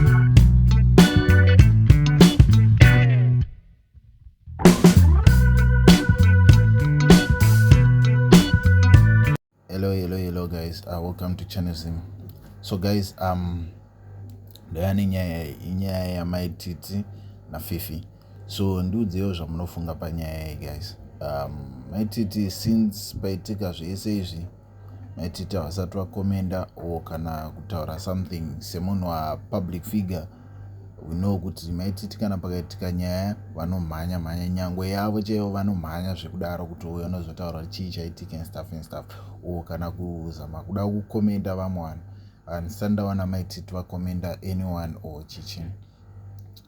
hello hello hello guys uh, welcome to channel zim so guys um ndaya nenyaya inyaya yamaititi nafifi so ndiudzewo zvamunofunga panyaya iyi guys um, maititi since paitika zvese izvi maitita vasati vakomenda or kana kutaura something semunhu wapublic figure weknow kuti maititi kana pakaitika nyaya vanomhanya mhanya nyangwe yavo chaivo vanomhanya zvekudaro kuti uyo anozotaura chii chaitika instuff instuff or kana kuzama kuda kukomenda vamwe vanhu handisati ndaona maititi vakomenda anyone or chichini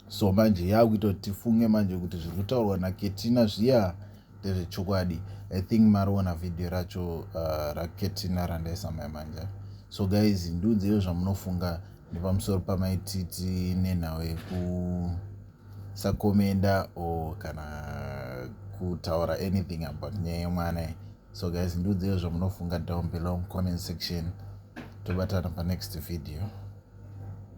so manje yaakuita kuti tifunge manje kuti zviri kutaurwa naketina zviya ndezvechokwadi i think mariona video racho uh, raketina randaisa mai manja so guys ndiudzeiwo zvamunofunga nepamusoro pamaititi nenhau yekusakomenda or kana kutaura anything about nyaya yemwana so guys ndiudzeiwo zvamunofunga down below comment section tobatana panext video